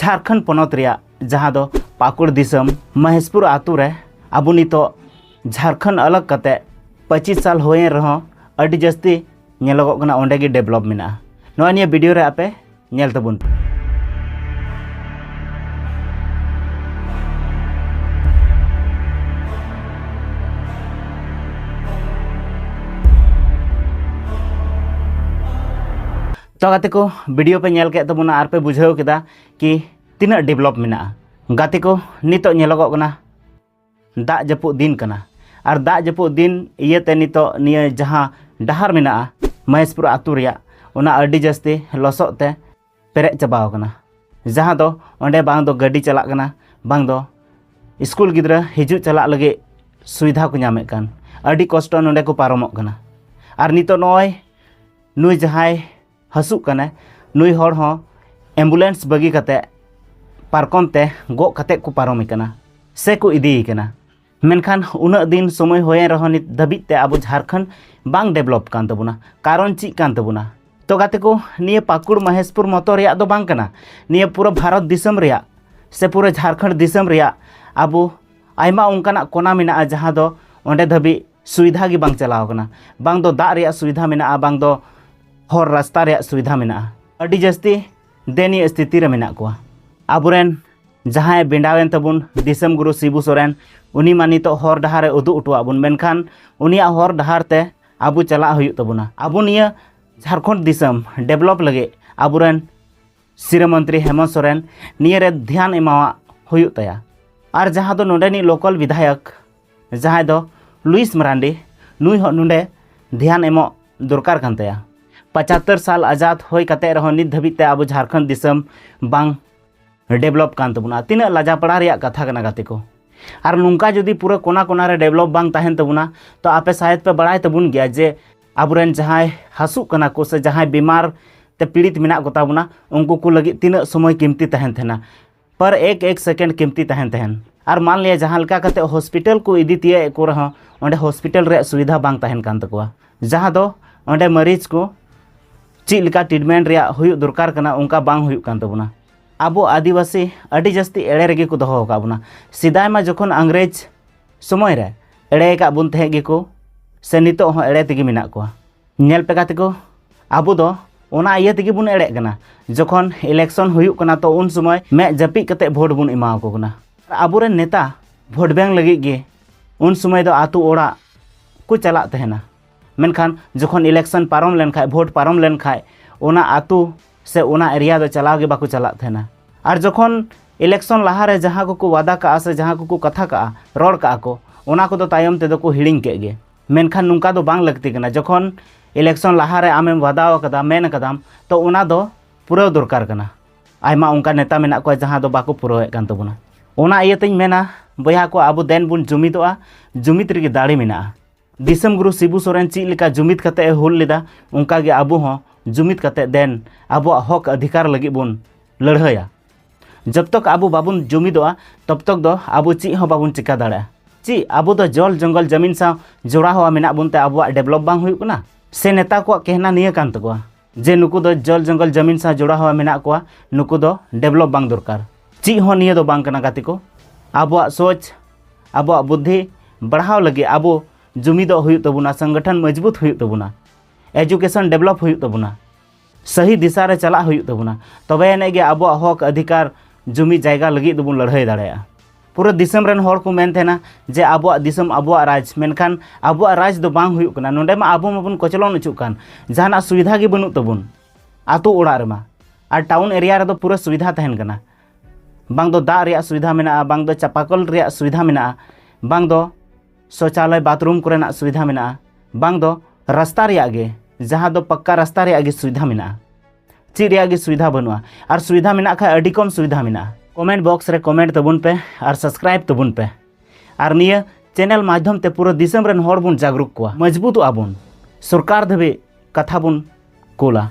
ᱡᱷᱟᱨᱠᱷᱚᱸᱰ ᱯᱚᱱᱚᱛ ᱨᱮᱭᱟᱜ ᱡᱟᱦᱟᱸ ᱫᱚ ᱯᱟᱠᱩᱲ ᱫᱤᱥᱚᱢ ᱢᱚᱦᱮᱥᱯᱩᱨ ᱟᱛᱳ ᱨᱮ ᱟᱵᱚ ᱱᱤᱛᱚᱜ ᱡᱷᱟᱨᱠᱷᱚᱸᱰ ᱟᱞᱟᱜᱽ ᱠᱟᱛᱮ ᱯᱚᱸᱪᱤᱥ ᱥᱟᱞ ᱦᱩᱭᱮᱱ ᱨᱮᱦᱚᱸ ᱟᱹᱰᱤ ᱡᱟᱹᱥᱛᱤ ᱧᱮᱞᱚᱜᱚᱜ ᱠᱟᱱᱟ ᱚᱸᱰᱮ ᱜᱮ ᱰᱮᱵᱷᱞᱚᱯ ᱢᱮᱱᱟᱜᱼᱟ ᱱᱚᱜᱼᱚᱭ ᱱᱤᱭᱟᱹ ᱵᱷᱤᱰᱤᱭᱳ ᱨᱮ ᱟᱯᱮ ᱧᱮᱞ ᱛᱟᱵᱚᱱ ᱯᱮ ᱛᱚ ᱜᱟᱛᱮ ᱠᱚ ᱵᱷᱤᱰᱤᱭᱳ ᱯᱮ ᱧᱮᱞ ᱠᱮᱫ ᱛᱟᱵᱚᱱᱟ ᱟᱨ ᱯᱮ ᱵᱩᱡᱷᱟᱹᱣ ᱠᱮᱫᱟ ᱠᱤ ᱛᱤᱱᱟᱹᱜ ᱰᱮᱵᱷᱞᱚᱯ ᱢᱮᱱᱟᱜᱼᱟ ᱜᱟᱛᱮ ᱠᱚ ᱱᱤᱛᱚᱜ ᱧᱮᱞᱚᱜᱚᱜ ᱠᱟᱱᱟ ᱫᱟᱜ ᱡᱟᱹᱯᱩᱫ ᱫᱤᱱ ᱠᱟᱱᱟ ᱟᱨ ᱫᱟᱜ ᱡᱟᱹᱯᱩᱫ ᱫᱤᱱ ᱤᱭᱟᱹᱛᱮ ᱱᱤᱛᱚᱜ ᱱᱤᱭᱟᱹ ᱡᱟᱦᱟᱸ ᱰᱟᱦᱟᱨ ᱢᱮᱱᱟᱜᱼᱟ ᱢᱚᱦᱮᱥᱯᱩᱨ ᱟᱹᱛᱩ ᱨᱮᱭᱟᱜ ᱚᱱᱟ ᱟᱹᱰᱤ ᱡᱟᱹᱥᱛᱤ ᱞᱚᱥᱚᱫ ᱛᱮ ᱯᱮᱨᱮᱡ ᱪᱟᱵᱟᱣ ᱠᱟᱱᱟ ᱡᱟᱦᱟᱸ ᱫᱚ ᱚᱸᱰᱮ ᱵᱟᱝ ᱫᱚ ᱜᱟᱹᱰᱤ ᱪᱟᱞᱟᱜ ᱠᱟᱱᱟ ᱵᱟᱝ ᱫᱚ ᱥᱠᱩᱞ ᱜᱤᱫᱽᱨᱟᱹ ᱦᱤᱡᱩᱜ ᱪᱟᱞᱟᱜ ᱞᱟᱹᱜᱤᱫ ᱥᱩᱵᱤᱫᱷᱟ ᱠᱚ ᱧᱟᱢᱮᱫ ᱠᱟᱱ ᱟᱹᱰᱤ ᱠᱚᱥᱴᱚ ᱱᱚᱸᱰᱮ ᱠᱚ ᱯᱟᱨᱚᱢᱚᱜ ᱠᱟᱱᱟ ᱟᱨ ᱱᱤᱛᱚᱜ ᱱᱚᱜᱼᱚᱭ ᱱᱩᱭ ᱡᱟᱦᱟᱸᱭ ᱦᱟᱹᱥᱩᱜ ᱠᱟᱱᱟᱭ ᱱᱩᱭ ᱦᱚᱲ ᱦᱚᱸ ᱮᱢᱵᱩᱞᱮᱱᱥ ᱵᱟᱹᱜᱤ ᱠᱟᱛᱮ ᱯᱟᱨᱠᱚᱢ ᱛᱮ ᱜᱚᱜ ᱠᱟᱛᱮ ᱠᱚ ᱯᱟᱨᱚᱢᱮ ᱠᱟᱱᱟ ᱥᱮ ᱠᱚ ᱤᱫᱤᱭᱮ ᱠᱟᱱᱟ ᱢᱮᱱᱠᱷᱟᱱ ᱩᱱᱟᱹᱜ ᱫᱤᱱ ᱥᱚᱢᱚᱭ ᱦᱩᱭᱮᱱ ᱨᱮᱦᱚᱸ ᱱᱤᱛ ᱫᱷᱟᱹᱵᱤᱡ ᱛᱮ ᱟᱵᱚ ᱡᱷᱟᱨᱠᱷᱚᱸᱰ ᱵᱟᱝ ᱰᱮᱵᱷᱞᱚᱯ ᱠᱟᱱ ᱛᱟᱵᱚᱱᱟ ᱠᱟᱨᱚᱱ ᱪᱮᱫ ᱠᱟᱱ ᱛᱟᱵᱚᱱᱟ ᱛᱚ ᱜᱟᱛᱮ ᱠᱚ ᱱᱤᱭᱟᱹ ᱯᱟᱹᱠᱩᱲ ᱢᱚᱦᱮᱥᱯᱩᱨ ᱢᱚᱛᱚ ᱨᱮᱭᱟᱜ ᱫᱚ ᱵᱟᱝ ᱠᱟᱱᱟ ᱱᱤᱭᱟᱹ ᱯᱩᱨᱟᱹ ᱵᱷᱟᱨᱚᱛ ᱫᱤᱥᱚᱢ ᱨᱮᱭᱟᱜ ᱥᱮ ᱯᱩᱨᱟᱹ ᱡᱷᱟᱨᱠᱷᱚᱸᱰ ᱫᱤᱥᱚᱢ ᱨᱮᱭᱟᱜ ᱟᱵᱚ ᱟᱭᱢᱟ ᱚᱱᱠᱟᱱᱟᱜ ᱠᱚᱱᱟ ᱢᱮᱱᱟᱜᱼᱟ ᱡᱟᱦᱟᱸ ᱫᱚ ᱚᱸᱰᱮ ᱫᱷᱟᱹᱵᱤᱡ ᱥᱩᱵᱤᱫᱷᱟ ᱜᱮ ᱵᱟᱝ ᱪᱟᱞᱟᱣ ᱠᱟᱱᱟ ᱵᱟᱝ ᱫᱚ ᱫᱟᱜ ᱨᱮᱭᱟᱜ ᱥᱩᱵᱤᱫᱷᱟ ᱢᱮᱱᱟᱜᱼᱟ ᱵᱟᱝ ᱫᱚ ᱦᱚᱨ ᱨᱟᱥᱛᱟ ᱨᱮᱭᱟᱜ ᱥᱩᱵᱤᱫᱷᱟ ᱢᱮᱱᱟᱜᱼᱟ ᱟᱹᱰᱤ ᱡᱟᱹᱥᱛᱤ ᱫᱮᱱᱤᱭᱟᱹ ᱥᱛᱷᱤᱛᱤ ᱨᱮ ᱢᱮᱱᱟᱜ ᱠᱚᱣᱟ ᱟᱵᱚᱨᱮᱱ ᱡᱟᱦᱟᱸᱭ ᱵᱮᱸᱰᱟᱣᱮᱱ ᱛᱟᱵᱚᱱ ᱫᱤᱥᱚᱢ ᱜᱩᱨᱩ ᱥᱤᱵᱩ ᱥᱚᱨᱮᱱ ᱩᱱᱤ ᱢᱟ ᱱᱤᱛᱚᱜ ᱦᱚᱨ ᱰᱟᱦᱟᱨ ᱮ ᱩᱫᱩᱜ ᱦᱚᱴᱚᱣᱟᱜ ᱵᱚᱱ ᱢᱮᱱᱠᱷᱟᱱ ᱩᱱᱤᱭᱟᱜ ᱦᱚᱨ ᱰᱟᱦᱟᱨ ᱛᱮ ᱟᱵᱚ ᱪᱟᱞᱟᱜ ᱦᱩᱭᱩᱜ ᱛᱟᱵᱚᱱᱟ ᱟᱵᱚ ᱱᱤᱭᱟᱹ ᱡᱷᱟᱲᱠᱷᱚᱸᱰ ᱫᱤᱥᱚᱢ ᱰᱮᱵᱷᱞᱚᱯ ᱞᱟᱹᱜᱤᱫ ᱟᱵᱚᱨᱮᱱ ᱥᱤᱨᱟᱹ ᱢᱚᱱᱛᱨᱤ ᱦᱮᱢᱚᱱᱛ ᱥᱚᱨᱮᱱ ᱱᱤᱭᱟᱹᱨᱮ ᱫᱷᱮᱭᱟᱱ ᱮᱢᱟᱣᱟᱜ ᱦᱩᱭᱩᱜ ᱛᱟᱭᱟ ᱟᱨ ᱡᱟᱦᱟᱸ ᱫᱚ ᱱᱚᱰᱮᱱᱤᱡ ᱞᱳᱠᱟᱞ ᱵᱤᱫᱷᱟᱭᱚᱠ ᱡᱟᱦᱟᱸᱭ ᱫᱚ ᱞᱩᱭᱤᱥ ᱢᱟᱨᱟᱱᱰᱤ ᱱᱩᱭ ᱦᱚᱸ ᱱᱚᱰᱮ ᱫᱷᱮᱭᱟᱱ ᱮᱢᱚᱜ ᱫᱚᱨᱠᱟᱨ ᱠᱟᱱ ᱛᱟᱭᱟ ᱯᱟᱪᱟᱛᱛᱚᱨ ᱥᱟᱞ ᱟᱡᱟᱫ ᱦᱩᱭ ᱠᱟᱛᱮ ᱨᱮᱦᱚᱸ ᱱᱤᱛ ᱫᱷᱟᱹᱵᱤᱡ ᱛᱮ ᱟᱵᱚ ᱡᱷᱟᱨᱠᱷᱚᱸᱰ ᱫᱤᱥᱚᱢ ᱵᱟᱝ ᱰᱮᱵᱷᱞᱚᱯ ᱠᱟᱱ ᱛᱟᱵᱚᱱᱟ ᱛᱤᱱᱟᱹᱜ ᱞᱟᱡᱟᱯᱟᱲᱟ ᱨᱮᱭᱟᱜ ᱠᱟᱛᱷᱟ ᱠᱟᱱᱟ ᱜᱟᱛᱮ ᱠᱚ ᱟᱨ ᱱᱚᱝᱠᱟ ᱡᱩᱫᱤ ᱯᱩᱨᱟᱹ ᱠᱚᱱᱟ ᱠᱚᱱᱟ ᱨᱮ ᱰᱮᱵᱷᱞᱚᱯ ᱵᱟᱝ ᱛᱟᱦᱮᱱ ᱛᱟᱵᱚᱱᱟ ᱛᱚ ᱟᱯᱮ ᱥᱟᱭᱮᱫ ᱯᱮ ᱵᱟᱲᱟᱭ ᱛᱟᱵᱚᱱ ᱜᱮᱭᱟ ᱡᱮ ᱟᱵᱚᱨᱮᱱ ᱡᱟᱦᱟᱸᱭ ᱦᱟᱹᱥᱩᱜ ᱠᱟᱱᱟ ᱠᱚ ᱥᱮ ᱡᱟᱦᱟᱸᱭ ᱵᱤᱢᱟᱨ ᱛᱮ ᱯᱤᱲᱤᱛ ᱢᱮᱱᱟᱜ ᱠᱚᱛᱟ ᱵᱚᱱᱟ ᱩᱱᱠᱩ ᱠᱚ ᱞᱟᱹᱜᱤᱫ ᱛᱤᱱᱟᱹᱜ ᱥᱚᱢᱚᱭ ᱠᱤᱢᱛᱤ ᱛᱟᱦᱮᱱ ᱛᱟᱦᱮᱱᱟ ᱯᱟᱨ ᱮᱠ ᱮᱠ ᱥᱮᱠᱮᱱᱰ ᱠᱤᱢᱛᱤ ᱛᱟᱦᱮᱱ ᱛᱟᱦᱮᱱ ᱟᱨ ᱢᱟᱱ ᱞᱤᱭᱟ ᱡᱟᱦᱟᱸ ᱞᱮᱠᱟ ᱠᱟᱛᱮ ᱦᱚᱥᱯᱤᱴᱟᱞ ᱠᱚ ᱤᱫᱤ ᱛᱤᱭᱟᱹᱜ ᱮᱫ ᱠᱚ ᱨᱮᱦᱚᱸ ᱚᱸᱰᱮ ᱦᱚᱥᱯᱤᱴᱟᱞ ᱨᱮᱭᱟᱜ ᱥᱩᱵᱤᱫᱷᱟ ᱵᱟᱝ ᱛᱟᱦᱮᱱ ᱠᱟᱱ ᱛᱟᱠᱚᱣᱟ ᱡᱟᱦᱟᱸ ᱫᱚ ᱚᱸᱰᱮ ᱢᱟᱹᱨᱤᱡᱽ ᱠᱚ ᱪᱮᱫ ᱞᱮᱠᱟ ᱴᱨᱤᱴᱢᱮᱱᱴ ᱨᱮᱭᱟᱜ ᱦᱩᱭᱩᱜ ᱫᱚᱨᱠᱟᱨ ᱠᱟᱱᱟ ᱚᱱᱠᱟ ᱵᱟᱝ ᱦᱩᱭᱩᱜ ᱠᱟᱱ ᱛᱟᱵᱚᱱᱟ ᱟᱵᱚ ᱟᱹᱫᱤᱵᱟᱹᱥᱤ ᱟᱹᱰᱤ ᱡᱟᱹᱥᱛᱤ ᱮᱲᱮ ᱨᱮᱜᱮ ᱠᱚ ᱫᱚᱦᱚ ᱟᱠᱟᱫ ᱵᱚᱱᱟ ᱥᱮᱫᱟᱭ ᱢᱟ ᱡᱚᱠᱷᱚᱱ ᱤᱝᱨᱮᱡᱽ ᱥᱚᱢᱚᱭ ᱨᱮ ᱮᱲᱮ ᱟᱠᱟᱫ ᱵᱚᱱ ᱛᱟᱦᱮᱸᱫ ᱜᱮᱠᱚ ᱥᱮ ᱱᱤᱛᱚᱜ ᱦᱚᱸ ᱮᱲᱮ ᱛᱮᱜᱮ ᱢᱮᱱᱟᱜ ᱠᱚᱣᱟ ᱧᱮᱞ ᱯᱮ ᱜᱟᱛᱮ ᱠᱚ ᱟᱵᱚ ᱫᱚ ᱚᱱᱟ ᱤᱭᱟᱹ ᱛᱮᱜᱮ ᱵᱚᱱ ᱮᱲᱮᱜ ᱠᱟᱱᱟ ᱡᱚᱠᱷᱚᱱ ᱤᱞᱮᱠᱥᱚᱱ ᱦᱩᱭᱩᱜ ᱠᱟᱱᱟ ᱛᱚ ᱩᱱ ᱥᱚᱢᱚᱭ ᱢᱮᱫ ᱡᱟᱹᱯᱤᱫ ᱠᱟᱛᱮ ᱵᱷᱳᱴ ᱵᱚᱱ ᱮᱢᱟ ᱟᱠᱚ ᱠᱟᱱᱟ ᱟᱵᱚᱨᱮᱱ ᱱᱮᱛᱟ ᱵᱷᱳᱴ ᱵᱮᱝ ᱞᱟᱹᱜᱤᱫ ᱜᱮ ᱩᱱ ᱥᱚᱢᱚᱭ ᱫᱚ ᱟᱛᱳ ᱚᱲᱟᱜ ᱠᱚ ᱪᱟᱞᱟᱜ ᱛᱟᱦᱮᱱᱟ ᱢᱮᱱᱠᱷᱟᱱ ᱡᱚᱠᱷᱚᱱ ᱤᱞᱮᱠᱥᱚᱱ ᱯᱟᱨᱚᱢ ᱞᱮᱱᱠᱷᱟᱡ ᱵᱷᱳᱴ ᱯᱟᱨᱚᱢ ᱞᱮᱱᱠᱷᱟᱡ ᱚᱱᱟ ᱟᱛᱳ ᱥᱮ ᱚᱱᱟ ᱮᱨᱤᱭᱟ ᱫᱚ ᱪᱟᱞᱟᱣ ᱜᱮ ᱵᱟᱠᱚ ᱪᱟᱞᱟᱜ ᱛᱟᱦᱮᱱᱟ ᱟᱨ ᱡᱚᱠᱷᱚᱱ ᱤᱞᱮᱠᱥᱚᱱ ᱞᱟᱦᱟᱨᱮ ᱡᱟᱦᱟᱸ ᱠᱚᱠᱚ ᱣᱟᱫᱟ ᱠᱟᱜᱼᱟ ᱥᱮ ᱡᱟᱦᱟᱸ ᱠᱚᱠᱚ ᱠᱟᱛᱷᱟ ᱠᱟᱜᱼᱟ ᱨᱚᱲ ᱠᱟᱜᱼᱟ ᱠᱚ ᱚᱱᱟ ᱠᱚᱫᱚ ᱛᱟᱭᱚᱢ ᱛᱮᱫᱚ ᱠᱚ ᱦᱤᱲᱤᱧ ᱠᱮᱫ ᱜᱮ ᱢᱮᱱᱠᱷᱟᱱ ᱱᱚᱝᱠᱟ ᱫᱚ ᱵᱟᱝ ᱞᱟᱹᱠᱛᱤ ᱠᱟᱱᱟ ᱡᱚᱠᱷᱚᱱ ᱤᱞᱮᱠᱥᱚᱱ ᱞᱟᱦᱟᱨᱮ ᱟᱢᱮᱢ ᱵᱟᱫᱟᱣ ᱟᱠᱟᱫᱟ ᱢᱮᱱ ᱟᱠᱟᱫᱟᱢ ᱛᱚ ᱚᱱᱟ ᱫᱚ ᱯᱩᱨᱟᱹᱣ ᱫᱚᱨᱠᱟᱨ ᱠᱟᱱᱟ ᱟᱭᱢᱟ ᱚᱱᱠᱟ ᱱᱮᱛᱟ ᱢᱮᱱᱟᱜ ᱠᱚᱣᱟ ᱡᱟᱦᱟᱸ ᱫᱚ ᱵᱟᱠᱚ ᱯᱩᱨᱟᱹᱣᱮᱫ ᱠᱟᱱ ᱛᱟᱵᱚᱱᱟ ᱚᱱᱟ ᱤᱭᱟᱹᱛᱮᱧ ᱢᱮᱱᱟ ᱵᱚᱭᱦᱟ ᱠᱚ ᱟᱵᱚ ᱫᱮᱱ ᱵᱚᱱ ᱡᱩᱢᱤᱫᱚᱜᱼᱟ ᱡᱩᱢᱤᱫ ᱨᱮᱜᱮ ᱫᱟᱲᱮ ᱢᱮᱱᱟᱜᱼᱟ ᱫᱤᱥᱚᱢ ᱜᱩᱨᱩ ᱥᱤᱵᱩ ᱥᱚᱨᱮᱱ ᱪᱮᱫ ᱞᱮᱠᱟ ᱡᱩᱢᱤᱫ ᱠᱟᱛᱮ ᱮ ᱦᱩᱞ ᱞᱮᱫᱟ ᱚᱱᱠᱟᱜᱮ ᱟᱵᱚ ᱦᱚᱸ ᱡᱩᱢᱤᱫ ᱠᱟᱛᱮ ᱫᱮᱱ ᱟᱵᱚᱣᱟᱜ ᱦᱚᱠ ᱚᱫᱷᱤᱠᱟᱨ ᱞᱟᱹᱜᱤᱫ ᱵᱚᱱ ᱞᱟᱹᱲᱦᱟᱹᱭᱟ ᱡᱚᱵ ᱛᱚᱠ ᱟᱵᱚ ᱵᱟᱵᱚᱱ ᱡᱩᱢᱤᱫᱚᱜᱼᱟ ᱛᱚᱵ ᱛᱚᱠ ᱫᱚ ᱟᱵᱚ ᱪᱮᱫ ᱦᱚᱸ ᱵᱟᱵᱚᱱ ᱪᱤᱠᱟ ᱫᱟᱲᱮᱭᱟᱜᱼᱟ ᱪᱮᱫ ᱟᱵᱚ ᱫᱚ ᱡᱚᱞ ᱡᱚᱝᱜᱚᱞ ᱡᱟᱢᱤᱱ ᱥᱟᱶ ᱡᱚᱲᱟᱣ ᱢᱮᱱᱟᱜ ᱵᱚᱱ ᱛᱮ ᱟᱵᱚᱣᱟᱜ ᱰᱮᱵᱷᱞᱚᱯ ᱵᱟᱝ ᱦᱩᱭᱩᱜ ᱠᱟᱱᱟ ᱥᱮ ᱱᱮᱛᱟ ᱠᱚᱣᱟᱜ ᱠᱮᱦᱱᱟ ᱱᱤᱭᱟᱹ ᱠᱟᱱ ᱛᱟᱠᱚᱣᱟ ᱡᱮ ᱱᱩᱠᱩ ᱫᱚ ᱡᱚᱞ ᱡᱚᱝᱜᱚᱞ ᱡᱟᱢᱤᱱ ᱥᱟᱶ ᱡᱚᱲᱟᱣ ᱢᱮᱱᱟᱜ ᱠᱚᱣᱟ ᱱᱩᱠᱩ ᱫᱚ ᱰᱮᱵᱷᱞᱚᱯ ᱵᱟᱝ ᱫᱚᱨᱠᱟᱨ ᱪᱮᱫ ᱦᱚᱸ ᱱᱤᱭᱟᱹ ᱫᱚ ᱵᱟᱝ ᱠᱟᱱᱟ ᱜᱟᱛᱮ ᱠᱚ ᱟᱵᱚᱣᱟᱜ ᱥᱚᱪ ᱟᱵᱚᱣᱟᱜ ᱵᱩᱫᱽᱫᱷᱤ ᱵᱟᱲᱦᱟᱣ ᱞᱟᱹᱜᱤᱫ ᱟᱵᱚ ᱡᱩᱢᱤᱫᱚᱜ ᱦᱩᱭᱩᱜ ᱛᱟᱵᱚᱱᱟ ᱥᱚᱝᱜᱚᱴᱷᱚᱱ ᱢᱚᱡᱽᱵᱩᱛ ᱦᱩᱭᱩᱜ ᱛᱟᱵᱚᱱᱟ ᱮᱡᱩᱠᱮᱥᱚᱱ ᱰᱮᱵᱷᱞᱚᱯ ᱦᱩᱭᱩᱜ ᱛᱟᱵᱚᱱᱟ ᱥᱟᱹᱦᱤ ᱫᱤᱥᱟ ᱨᱮ ᱪᱟᱞᱟᱜ ᱦᱩᱭᱩᱜ ᱛᱟᱵᱚᱱᱟ ᱛᱚᱵᱮ ᱮᱱᱮᱡ ᱜᱮ ᱟᱵᱚᱣᱟᱜ ᱦᱚᱠ ᱟᱹᱫᱷᱤᱠᱟᱨ ᱡᱩᱢᱤ ᱡᱟᱭᱜᱟ ᱞᱟᱹᱜᱤᱫ ᱫᱚᱵᱚᱱ ᱞᱟᱹᱲᱦᱟᱹᱭ ᱫᱟᱲᱮᱭᱟᱜᱼᱟ ᱯᱩᱨᱟᱹ ᱫᱤᱥᱚᱢ ᱨᱮᱱ ᱦᱚᱲ ᱠᱚ ᱢᱮᱱ ᱛᱟᱦᱮᱱᱟ ᱡᱮ ᱟᱵᱚᱣᱟᱜ ᱫᱤᱥᱚᱢ ᱟᱵᱚᱣᱟᱜ ᱨᱟᱡᱽ ᱢᱮᱱᱠᱷᱟᱱ ᱟᱵᱚᱣᱟᱜ ᱨᱟᱡᱽ ᱫᱚ ᱵᱟᱝ ᱦᱩᱭᱩᱜ ᱠᱟᱱᱟ ᱱᱚᱰᱮ ᱢᱟ ᱟᱵᱚ ᱢᱟᱵᱚᱱ ᱠᱚᱪᱞᱚᱱ ᱚᱪᱚᱜ ᱠᱟᱱ ᱡᱟᱦᱟᱱᱟᱜ ᱥᱩᱵᱤᱫᱷᱟ ᱜᱮ ᱵᱟᱹᱱᱩᱜ ᱛᱟᱵᱚᱱ ᱟᱛᱳ ᱚᱲᱟᱜ ᱨᱮᱢᱟ ᱟᱨ ᱴᱟᱣᱩᱱ ᱮᱨᱤᱭᱟ ᱨᱮᱫᱚ ᱯᱩᱨᱟᱹ ᱥᱩᱵᱤᱫᱷᱟ ᱛᱟᱦᱮᱱ ᱠᱟᱱᱟ ᱵᱟᱝ ᱫᱚ ᱫᱟᱜ ᱨᱮᱭᱟᱜ ᱥᱩᱵᱤᱫᱷᱟ ᱢᱮᱱᱟᱜᱼᱟ ᱵᱟᱝ ᱫᱚ ᱪᱟᱯᱟᱠᱚᱞ ᱨᱮᱭᱟᱜ ᱥᱩᱵᱤᱫᱷᱟ ᱢᱮᱱᱟᱜᱼᱟ ᱵᱟᱝ ᱫᱚ ᱥᱚᱪᱟᱞᱚᱭ ᱵᱟᱛᱷᱨᱩᱢ ᱠᱚᱨᱮᱱᱟᱜ ᱥᱩᱵᱤᱫᱷᱟ ᱢᱮᱱᱟᱜᱼᱟ ᱵᱟᱝ ᱫᱚ ᱨᱟᱥᱛᱟ ᱨᱮᱭᱟᱜ ᱜᱮ ᱡᱟᱦᱟᱸ ᱫᱚ ᱯᱟᱠᱠᱟ ᱨᱟᱥᱛᱟ ᱨᱮᱭᱟᱜ ᱜᱮ ᱥᱩᱵᱤᱫᱷᱟ ᱢᱮᱱᱟᱜᱼᱟ ᱪᱮᱫ ᱨᱮᱭᱟᱜ ᱜᱮ ᱥᱩᱵᱤᱫᱷᱟ ᱵᱟᱹᱱᱩᱜᱼᱟ ᱟᱨ ᱥᱩᱵᱤᱫᱷᱟ ᱢᱮᱱᱟᱜ ᱠᱷᱟᱱ ᱟᱹᱰᱤ ᱠᱚᱢ ᱥᱩᱵᱤᱫᱷᱟ ᱢᱮᱱᱟᱜᱼᱟ ᱠᱚᱢᱮᱱᱴ ᱵᱚᱠᱥ ᱨᱮ ᱠᱚᱢᱮᱱᱴ ᱛᱟᱵᱚᱱ ᱯᱮ ᱟᱨ ᱥᱟᱵᱥᱠᱨᱟᱭᱤᱵ ᱛᱟᱵᱚᱱ ᱯᱮ ᱟᱨ ᱱᱤᱭᱟᱹ ᱪᱮᱱᱮᱞ ᱢᱟᱫᱽᱫᱷᱚᱢ ᱛᱮ ᱯᱩᱨᱟᱹ ᱫᱤᱥᱚᱢ ᱨᱮᱱ ᱦᱚᱲ ᱵᱚᱱ ᱡᱟᱜᱽᱨᱩᱠ ᱠᱚᱣᱟ ᱢᱚᱡᱽᱵᱩᱛᱚᱜ ᱟᱵᱚᱱ ᱥᱚᱨᱠᱟᱨ ᱫᱷᱟᱹᱵᱤᱡ ᱠᱟᱛᱷᱟ ᱵᱚᱱ ᱠᱳᱞᱟ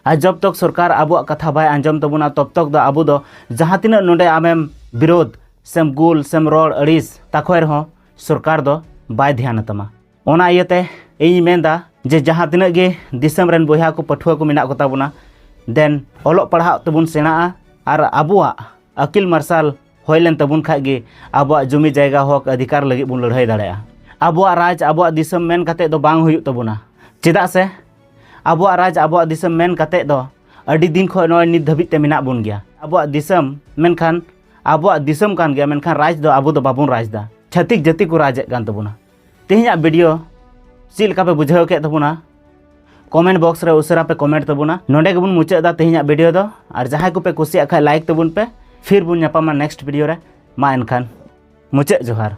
ᱟᱨ ᱡᱚᱵ ᱛᱚᱠ ᱥᱚᱨᱠᱟᱨ ᱟᱵᱚᱣᱟᱜ ᱠᱟᱛᱷᱟ ᱵᱟᱭ ᱟᱸᱡᱚᱢ ᱛᱟᱵᱚᱱᱟ ᱛᱚᱵ ᱛᱚᱠ ᱫᱚ ᱟᱵᱚ ᱫᱚ ᱡᱟᱦᱟᱸ ᱛᱤᱱᱟᱹᱜ ᱱᱚᱰᱮ ᱟᱢᱮᱢ ᱵᱤᱨᱳᱫᱷ ᱥᱮᱢ ᱜᱩᱞ ᱥᱮᱢ ᱨᱚᱲ ᱟᱹᱲᱤᱥ ᱛᱟᱠᱷᱚᱭ ᱨᱮᱦᱚᱸ ᱥᱚᱨᱠᱟᱨ ᱫᱚ ᱵᱟᱭ ᱫᱷᱮᱭᱟᱱ ᱛᱟᱢᱟ ᱚᱱᱟ ᱤᱭᱟᱹᱛᱮ ᱤᱧ ᱢᱮᱱᱫᱟ ᱡᱮ ᱡᱟᱦᱟᱸ ᱛᱤᱱᱟᱹᱜ ᱜᱮ ᱫᱤᱥᱚᱢ ᱨᱮᱱ ᱵᱚᱭᱦᱟ ᱠᱚ ᱯᱟᱹᱴᱷᱩᱣᱟᱹ ᱠᱚ ᱢᱮᱱᱟᱜ ᱠᱚᱛᱟ ᱵᱚᱱᱟ ᱫᱮᱱ ᱚᱞᱚᱜ ᱯᱟᱲᱦᱟᱜ ᱛᱮᱵᱚᱱ ᱥᱮᱬᱟᱜᱼᱟ ᱟᱨ ᱟᱵᱚᱣᱟᱜ ᱟᱹᱠᱤᱞ ᱢᱟᱨᱥᱟᱞ ᱦᱩᱭ ᱞᱮᱱ ᱛᱟᱵᱚᱱ ᱠᱷᱟᱡ ᱜᱮ ᱟᱵᱚᱣᱟᱜ ᱡᱩᱢᱤ ᱡᱟᱭᱜᱟ ᱦᱚᱠ ᱚᱫᱷᱤᱠᱟᱨ ᱞᱟᱹᱜᱤᱫ ᱵᱚᱱ ᱞᱟᱹᱲᱦᱟᱹᱭ ᱫᱟᱲᱮᱭᱟᱜᱼᱟ ᱟᱵᱚᱣᱟᱜ ᱨᱟᱡᱽ ᱟᱵᱚᱣᱟᱜ ᱫᱤᱥᱚᱢ ᱢᱮᱱ ᱠᱟᱛᱮ ᱫᱚ ᱵᱟᱝ ᱦᱩᱭᱩᱜ ᱛᱟᱵᱚᱱᱟ ᱪᱮᱫᱟᱜ ᱥᱮ ᱟᱵᱚᱣᱟᱜ ᱨᱟᱡᱽ ᱟᱵᱚᱣᱟᱜ ᱫᱤᱥᱚᱢ ᱢᱮᱱ ᱠᱟᱛᱮ ᱫᱚ ᱟᱹᱰᱤ ᱫᱤᱱ ᱠᱷᱚᱱ ᱱᱚᱜᱼᱚᱭ ᱱᱤᱛ ᱫᱷᱟᱹᱵᱤᱡ ᱛᱮ ᱢᱮᱱᱟᱜ ᱵᱚᱱ ᱜᱮᱭᱟ ᱟᱵᱚᱣᱟᱜ ᱫᱤᱥᱚᱢ ᱢᱮᱱᱠᱷᱟᱱ ᱟᱵᱚᱣᱟᱜ ᱫᱤᱥᱚᱢ ᱠᱟᱱ ᱜᱮᱭᱟ ᱢᱮᱱᱠᱷᱟᱱ ᱨᱟᱡᱽ ᱫᱚ ᱟᱵᱚ ᱫᱚ ᱵᱟᱵᱚᱱ ᱨᱟᱡᱽ ᱫᱟ ᱪᱷᱟᱹᱛᱤᱠ ᱡᱟᱹᱛᱤ ᱠᱚ ᱨᱟᱡᱽ ᱮᱫ ᱠᱟᱱ ᱛᱟᱵᱚᱱᱟ ᱛᱮᱦᱮᱧᱟᱜ ᱵᱷᱤᱰᱤᱭᱳ ᱪᱮᱫ ᱞᱮᱠᱟ ᱯᱮ ᱵᱩᱡᱷᱟᱹᱣ ᱠᱮᱫ ᱛᱟᱵᱚᱱᱟ ᱠᱚᱢᱮᱱᱴ ᱵᱚᱠᱥ ᱨᱮ ᱩᱥᱟᱹᱨᱟ ᱯᱮ ᱠᱚᱢᱮᱱᱴ ᱛᱟᱵᱚᱱᱟ ᱱᱚᱰᱮ ᱜᱮᱵᱚᱱ ᱢᱩᱪᱟᱹᱫ ᱫᱟ ᱛᱮᱦᱮᱧᱟᱜ ᱵᱷᱤᱰᱤᱭᱳ ᱫᱚ ᱟᱨ ᱡᱟᱦᱟᱸᱭ ᱠᱚᱯᱮ ᱠᱩᱥᱤᱭᱟᱜ ᱠᱷᱟᱡ ᱞᱟᱭᱤᱠ ᱛᱟᱵᱚᱱ ᱯᱮ ᱯᱷᱤᱨ ᱵᱚᱱ ᱧᱟᱯᱟᱢᱟ ᱱᱮᱠᱥᱴ ᱵᱷᱤᱰᱤᱭᱳ ᱨᱮ ᱢᱟ ᱮᱱᱠᱷᱟᱱ ᱢᱩᱪᱟᱹᱫ ᱡᱚᱦᱟᱨ